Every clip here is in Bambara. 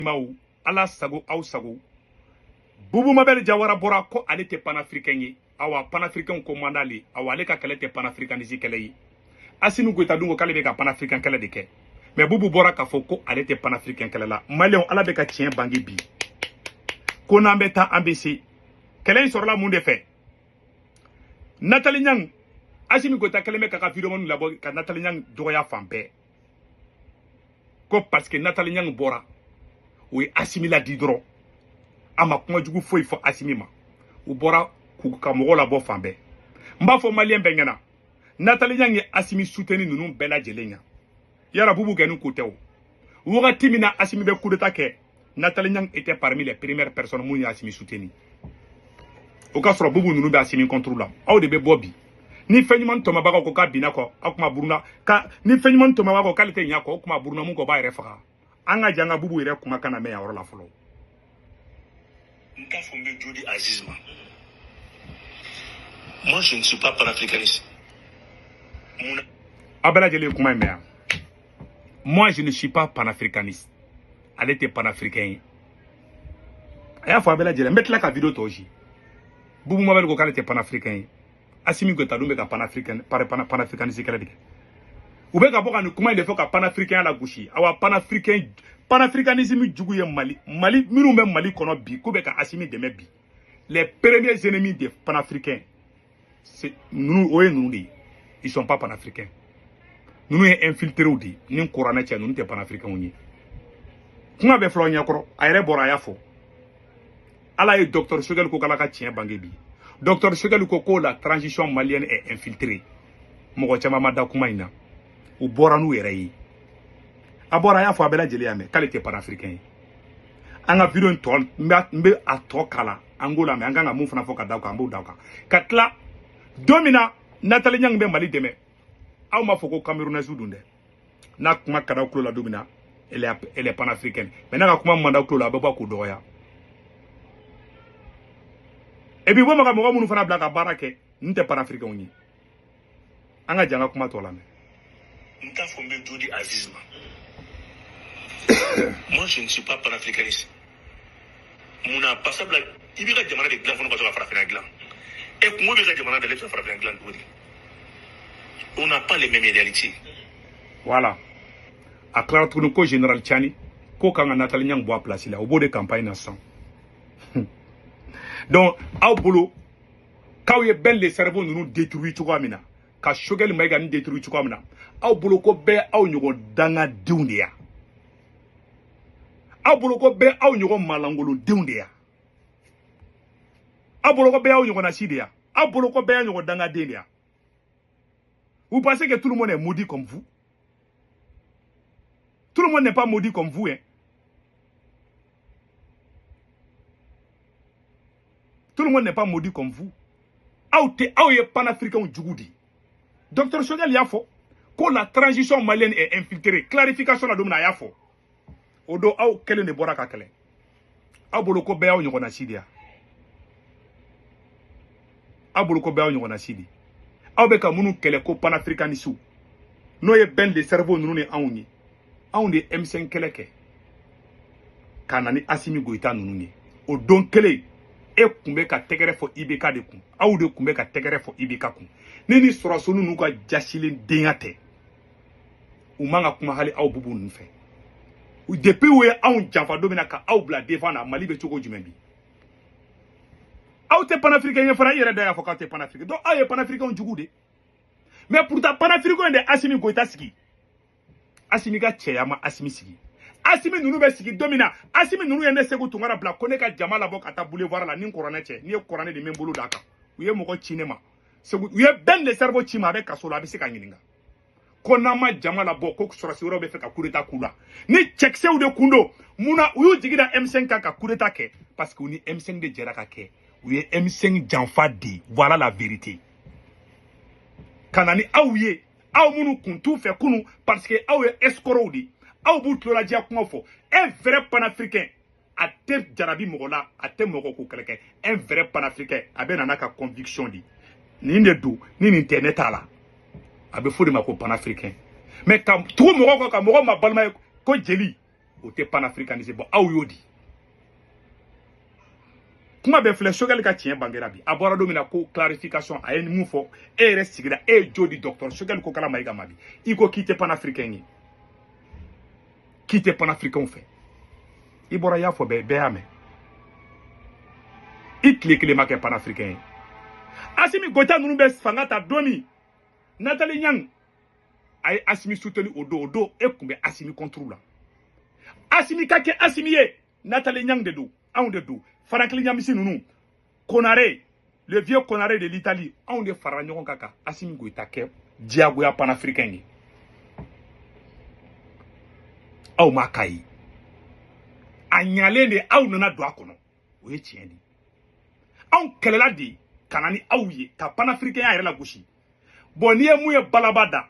maw ala sago aw sago bubu mabɛli jawara bɔra ko ale tɛ panafirikɛn ye awa panafirikɛnw ko man d'ale ye awa ale ka kɛlɛ tɛ panafirikanisi kɛlɛ ye asimi goyita dun ko k'ale bɛ ka panafirikɛn kɛlɛ de kɛ mɛ bubu bɔra k'a fɔ ko ale tɛ panafirikɛn kɛlɛ la maliyɛnw ala bɛ ka tiɲɛ bange bi ko n'an bɛ taa an bɛ segin kɛlɛ in sɔrɔla mun de fɛ natali ɲang asimi goyita kɛlen bɛ k'a ka videomaniw labɔ ka natali ɲang dɔgɔya fan bɛɛ ko parce que Nathalie Nyang bɔra o ye Asimi ladi dɔrɔn a ma kuma jugu foyi fɔ Asimi ma u bɔra k'u ka mɔgɔw labɔ fan bɛɛ n b'a fɔ maliyɛn bɛɛ ɲɛna Nathalie Nyang ye Asimi suteni ninnu bɛɛ lajɛlen ɲa y'a sɔrɔ Bubu kɛ nin ko tɛ o wagati min na Asimi bɛ kudeta kɛ Nathalie Nyang était parmi les premières personnes minnu y'asimi soutenu o ka sɔrɔ bubu ninnu bɛ asimi contre la aw de bɛ bɔ bi ni fɛn ɲuman tɔmɔbaga ko k'a binna kɔ aw kuma buruna ka ni fɛn ɲuman tɔmɔbaga ko k'ale tɛ ɲa kɔ o kuma buruna mun kɔ b'a yɛrɛ faga an ka jɛn ka bubu yɛrɛ kumakan lamɛn yan yɔrɔ la fɔlɔ n t'a fɔ n bɛ jodi aziz ma moi je ne suis pas panafricaniste mun na aw bɛɛ lajɛlen ye kuma in mɛn yan moi je ne suis pas panafricaniste ale tɛ panafricain ye a y'a fɔ a bɛɛ lajɛlen n bɛ tila ka video tɔ ci bubu mabɛli ko k'ale tɛ panafricain ye asimi goyita dun bɛ ka panafricain panafricaniste kɛlɛ de kɛ u bɛ ka bɔ ka nin kuma in de fɔ ka panafricain lagosi awa panafricain panafricanisme jugu ye mali maa minnu bɛ mali kɔnɔ bi k'u bɛ ka asimi dɛmɛ bi les premiers ennemis des panafricains ninnu o ye ninnu de ye ils sont pas panafricains ninnu ye infiltrew de ye ni kuranɛ cɛ ninnu tɛ panafricainw ye kuma bɛɛ fil'aw ɲɛkɔrɔ a yɛrɛ bɔra a y'a fɔ ala ye docteur sogɛli ko k'ala ka tiɲɛ bange bi docteur sogɛli ko ko la transition malienne est infiltrée mɔgɔ caman ma da kuma in na u bɔra n'u yɛrɛ ye a bɔra a y'a fɔ a bɛɛ lajɛlen y'a mɛn k'ale tɛ panafricain ye an ka video in tɔ n bɛ a tɔ kala an k'o lamɛn an kan ka mun fana fɔ ka da o kan an b'o da o kan ka tila don min na natali ɲangi bɛ mali dɛmɛ aw m'a fɔ ko kamerunɛsi don dɛ n'a kuma ka d'a tulo la don min na elle est panafricaine mais n'a ka kuma man d'a tulo la a bɛ bɔ k'o dɔgɔya et puis bɔ ma ka mɔgɔ minnu fana bila ka baara kɛ n tɛ panafricainw ye an ka jɛn ka kuma tɔ lamɛn n t'a fɔ n bɛ jodi aziz ma moi je ne suis pas panafricaniste mun na sabula i b'i ka jamana de dilan fɔlɔ ka sɔrɔ ka farafinna dilan e kɔngɔ b'i ka jamana da la i bɛ ka farafinna dilan cogo di on n'a pas les mêmes réalités voilà a tilara tuguni ko général cani ka kan ka natali ɲang bɔ a place la u b'o de campagne na sisan donc aw bolo k'aw ye bɛn le cerveau ninnu détruire cogoya min na ka sogɛli mayiga nin détruire cogoya min na aw bolo ko bɛɛ aw ɲɔgɔn dangadenw de ya aw bolo ko bɛɛ aw ɲɔgɔn malangolodenw de ya aw bolo ko bɛɛ aw ɲɔgɔnna si de ya aw bolo ko bɛɛ aw ɲɔgɔn dangaden de ya vous pensez que tout le monde est maudit comme vous Tout le monde n'est pas maudit comme vous. Hein. Tout le monde n'est pas maudit comme vous. Aw tɛ aw ye panafricains jugu de Docteur Choguel y'a fo. ko la transition malienne est infiltrée clarification la don min na a y'a fo. o don aw kelen de bɔra ka kɛlɛ aw bolo ko bɛɛ y'aw ɲɔgɔnna si de ya aw bolo ko bɛɛ y'aw ɲɔgɔnna si de aw bɛ ka minnu kɛlɛ ko panafricanisiw n'o ye bɛn le cerveau ninnu ni anw ye anw de ye M5 kɛlɛ kɛ ka na ni Asimi Goyita ninnu ye o don kelen e kun bɛ ka tɛgɛrɛ fɔ IBK de kun aw de kun bɛ ka tɛgɛrɛ fɔ IBK kun ni nin sɔrɔsi ninnu ka jasilen denya tɛ u man ka kuma hali aw bubu ninnu fɛ depuis u ye anw janfa don min na ka aw bila devant na mali bɛ cogo jumɛn bi aw tɛ panafirikɛn ye fana i yɛrɛ da y'a fɔ k'aw tɛ panafirikɛn donc aw ye panafirikɛnw jugu de mais pourtant panafirikɛnw in de asimi goyita sigi asimi ka cɛya ma asimi sigi asimi ninnu bɛ sigi don min na asimi ninnu ye ne segu tunkara bila ko ne ka jama labɔ ka taa boulevard la n ni kuranɛ cɛ n'i ye kuranɛ di n bɛ n bolo d'a kan u ye mɔgɔ ci ne ma segu u ye bɛn le cerveau ci ma a bɛ kaso la a bɛ se ka ɲininka ko n'an ma jama labɔ ko sɔrɔsi wɛrɛw bɛ fɛ ka kudeta k'u la ni cɛkisɛw de kun don mun na u y'u jigi da M5 kan ka kudeta kɛ parce que u ni M5 de jɛra ka kɛ u ye M5 janfa di voilà la vérité ka na ni aw ye aw minnu kun t'u fɛ kunu parce que aw ye escrocs de ye aw b'u tuloladiya kuma fɔ un vrai panafricain a tɛ jarabi mɔgɔ la a tɛ mɔgɔ ko kɛlɛ kɛ un vrai panafricain a bɛ na n'a ka conviction de nin de don ni nin tɛ ne t'a la a bɛ f'o de ma ko panafricain mais ka tugu mɔgɔ kɔ ka mɔgɔ mabalima i ko jeli o tɛ panafricanisme bon aw y'o di kuma bɛ filɛ sogɛli ka tiɲɛ bangera bi a bɔra don min na ko clarification a ye mun fɔ e yɛrɛ sigira e ye jo di dɔgɔtɔrɔ sogɛli kokala mayiga ma bi i ko k'i tɛ panafricain ye k'i tɛ panafirikanw fɛ i bɔra i y'a fɔ bɛɛ bɛɛ y'a mɛn i tile kelen ma kɛ panafirikɛn ye asimi goyita ninnu bɛ fanga ta don min natali ɲang a ye asimi soutenir o don o don e kun bɛ asimi contre la asimi ka kɛ asimi ye natali ɲang de don anw de don franklin ɲamisi ninnu konare le vieux konare de l'italie anw de farala ɲɔgɔn kan ka asimi goyita kɛ diyagoya panafricain ye aw ma k'a ye a ɲalen de aw nana don a kɔnɔ o ye tiɲɛ de ye anw kɛlɛla de ka na ni aw ye ka panafricainya yɛrɛ lagosi bon n'i ye mun ye balaba da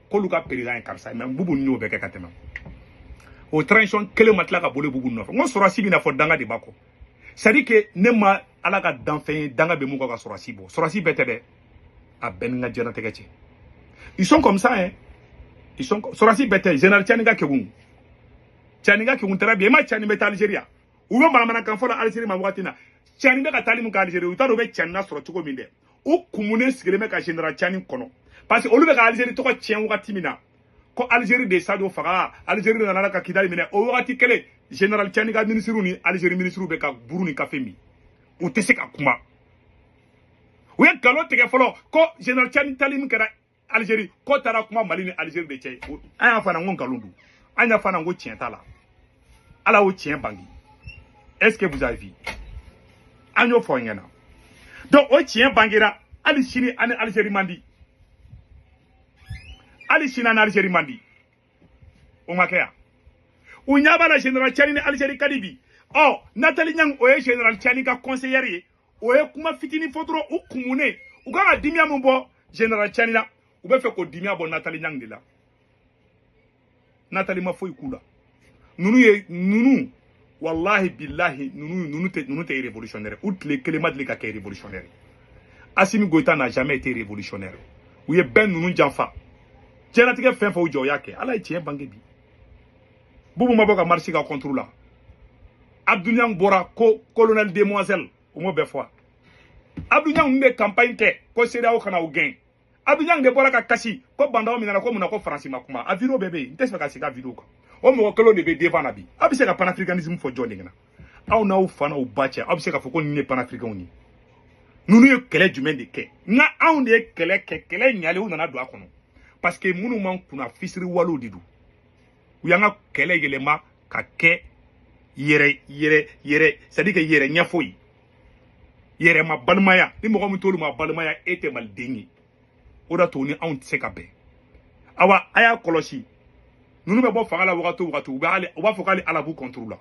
k'olu ka président ye karisa ye mais bubu y'o bɛɛ kɛ ka tɛmɛ o transition kelen ma tila ka boli bubu nɔfɛ n ko sɔrɔsi bɛna fɔ danga de b'a kɔ c'est à dire que ne ma ala ka danfɛn ye danga bɛ min kɔ ka sɔrɔsi bɔ sɔrɔsi bɛɛ tɛ dɛ a bɛɛ ni n ka diɲɛnatigɛ cɛ ils sont comme ça hein ils sont sɔrɔsi bɛɛ tɛ général cani ka kegun cani ka kegun très bien même cani bɛ taa algerie u bɛ manamanakan fɔ la algerie ma wagati na cani bɛ ka taali min kɛ algerie u t'a dɔn u bɛ cani na sɔrɔ cogo min dɛ u kumunen sigilen bɛ ka general cani kɔnɔ parce que olu bɛ ka algérie tɔgɔ tiɲɛ wagati min na ko algérie de sadio faga algérie de nana ka kidali minɛ o wagati kelen general cani ka minisiriw ni algérie minisiriw bɛ ka buru ni kafe min u tɛ se ka kuma u ye nkalon tigɛ fɔlɔ ko general cani taali min kɛra Algérie k'o taara kuma Mali ni Algérie de cɛ an y'a fɔ an ko nkalon don an y'a fɔ an ko tiɲɛ t'a la ala y'o tiɲɛ bange est ce que vous avez vu an y'o fɔ aw ɲɛna donc o tiɲɛ bangera hali sini an ni Algérie man di hali sini an ni Algérie man di o ma kɛ yan u ɲɛ b'a la général Tchani ni Algérie ka di bi ɔ Nathalie Yamb o ye général Tchani ka conseillère ye o ye kuma fitinin fɔ dɔrɔn u kumunen u kan ka dimiya min bɔ general cani la u bɛ fɛ k'o dimiya bɔ natali yamb de la natali ma foyi k'u la ninnu ye ninnu walahi bilahi ninnu ninnu tɛ ninnu tɛ révolutionnaire u tile kelen ma deli ka kɛ révolutionnaire asimi goyita n'a jamais été révolutionnaire u ye bɛɛ ninnu janfa diɲɛlatigɛ fɛn fɛn u jɔ u y'a kɛ ala ye tiɲɛ bange bi bubu ma bɔ ka marche k'a contre la abdou niang bɔra ko colonel demoiselle o m'o bɛɛ fɔ abdou niang min bɛ campagne kɛ ko cedeao ka na u gɛn abdou niang de bɔra ka kasi ko bah n'daw minɛna ko mun na ko faransi ma kuma a video bɛɛ bɛ yen n tɛ se ka segin a video kan o mɔgɔ kelen de bɛ devant na bi a bɛ se ka panafricanisme fɔ jɔn de ɲɛna aw n'aw fa n'aw ba cɛ aw bɛ se k'a fɔ ko nin ye panafricainw ye ninnu ye kɛlɛ jumɛn de kɛ nka anw de ye kɛlɛ kɛ kɛlɛ ɲalen u nana don a kɔnɔ parce que minnu makunna fisiriwalew de don u y'an ka kɛlɛ yɛlɛma ka kɛ yɛrɛ yɛrɛ yɛrɛ c'est à dire que yɛrɛ ɲɛfɔ ye yɛrɛ ma balimaya ni mɔgɔ min t'olu ma balimaya e tɛ maliden ye o d'a to ni anw tɛ se ka bɛn awa a y'a kɔlɔsi ninnu bɛ bɔ fanga la wagati o wagati u bɛ u b'a fɔ ko hali ala b'u contre la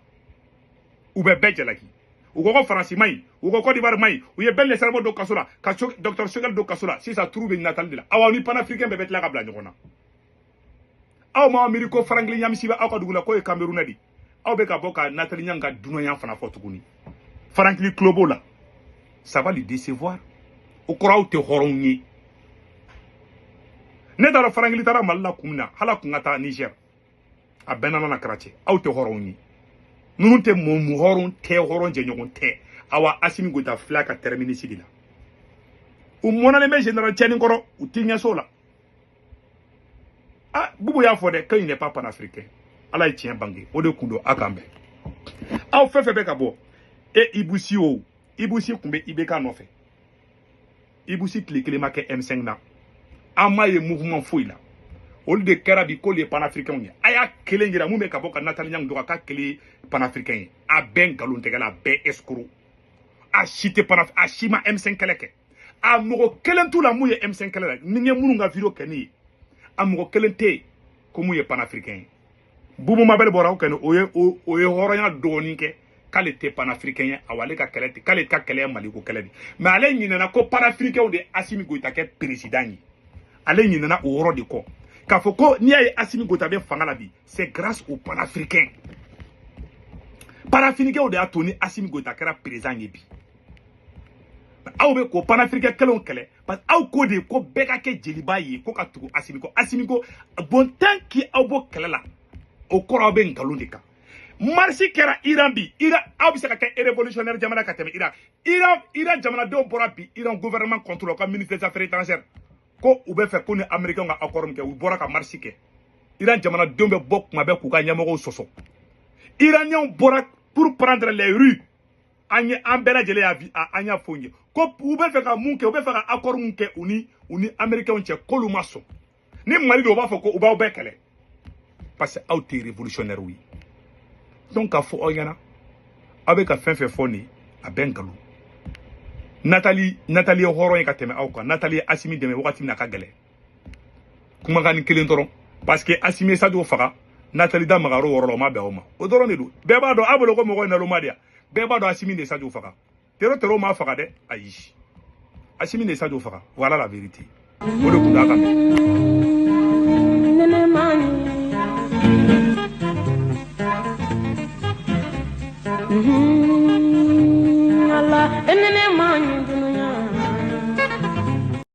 u bɛ bɛɛ jalaki u ko ko faransi man ɲi u ko kɔdiwari man ɲi u ye ben le cerveau don kaso la ka docteur choguel don kaso la sisan tour bɛ natali de la awa u ni panafricain bɛɛ bɛ tila ka bila ɲɔgɔn na aw ma miiri ko farankili ɲamisi bɛ aw ka dugu la k'o ye camerounais de aw bɛ ka bɔ ka natali ɲan ka dunanya fana fɔ tuguni farankili tulo b'o la ça va le décevoir o kɔrɔ aw tɛ hɔrɔnw ye ne t'a dɔn farankili taara mali la kun min na hala kun ka taa niger a bɛɛ nana na cracher aw tɛ hɔrɔnw ye ninnu tɛ mɔgɔ hɔrɔn tɛ hɔrɔn jɛɲɔgɔn tɛ awa asimi goyita fila ka tɛrɛminisi de la u mɔnɛlen bɛ general cani kɔrɔ u tɛ ɲɛso la ah bubu y'a fɔ dɛ ko il n'est pas panafricain ala ye tiɲɛ bange o de kun don a kan bɛn aw fɛn fɛn bɛ ka bɔ e ibusi o ibusi tun bɛ ibk nɔfɛ ibusi tile kelen ma kɛ m5 na an m'a ye mouvement foyi la olu de kɛra bi k'olu ye panafricainw ye a y'a kelen jira mun bɛ ka bɔ ka natali ɲangu dɔgɔ k'a kelen ye panafricain ye a bɛɛ nkalontɛgɛla a bɛɛ escroc a si tɛ panaf a si ma m5 kɛlɛ kɛ a mɔgɔ kelen t'u la mun ye M5 kɛlɛ kɛ ni n ye minnu ka video kɛ nin ye a mɔgɔ kelen tɛ yen ko mun ye panafricain ye bubu mabɛli bɔra aw kɛnɛ o ye o ye hɔrɔnya dɔɔnin kɛ k'ale tɛ panafricain ye awa ale ka kɛlɛ tɛ k'ale ka kɛlɛ ye maliko kɛlɛ de mais ale ɲinɛna ko panafricainw de ye asimi goyita kɛ peresidan ye ale ɲinɛna o yɔrɔ de kɔ k'a fɔ ko n'i y'a ye asimi goyita bɛ fanga la bi c'est grâce au panafricain panafricainw de y'a to ni asimi goyita kɛra peresidan ye bi aw bɛ k'o panafricain kɛlenw kɛlɛ parce que aw ko de ko bɛɛ ka kɛ jeliba ye ko ka tugu asimi kɔ asimi ko bon tant que aw b'o kɛlɛ la o kɔrɔ aw bɛ nkalon de kan marche kɛra iran bi iran aw bɛ se ka kɛ révolutionnaire jamana ka tɛmɛ iran iran iran jamanadenw bɔra bi iran gouvernement contre u ka ministre des affaires étrangères ko u bɛ fɛ k'u ni américain ka accord min kɛ u bɔra ka marche kɛ iran jamanadenw bɛ bɔ kuma bɛɛ k'u ka ɲɛmɔgɔw sɔsɔ iraniens bɔra pour prendre les rues an ye an bɛɛ lajɛlen y'a bi an y'a fɔ n ye ko u bɛ fɛ ka mun kɛ u bɛ fɛ ka accord mun kɛ u ni u ni américains cɛ k'olu ma sɔn ni mali don u b'a fɔ ko u b'aw bɛɛ kɛlɛ parce que aw tɛ révolutionnaire ye donc k'a fɔ aw ɲɛna aw bɛ ka fɛn fɛn fɔ nin a bɛɛ nkalon natali natali ye hɔrɔn ye ka tɛmɛ aw kan natali ye asimi dɛmɛ wagati min na a ka gɛlɛn kumakannin kelen dɔrɔn parce que asimi ye sajo faga natali da magara o yɔrɔ la o ma bɛn aw ma o dɔrɔn de don bɛɛ b'a dɔn aw bolo ko mɔgɔ ye naloma de ye bɛɛ b'a dɔn asimi de sajo faga tero tero m'a faga dɛ ayi asimi de sajo faga voilà la vérité o de tun d'a kan Mm-hmm.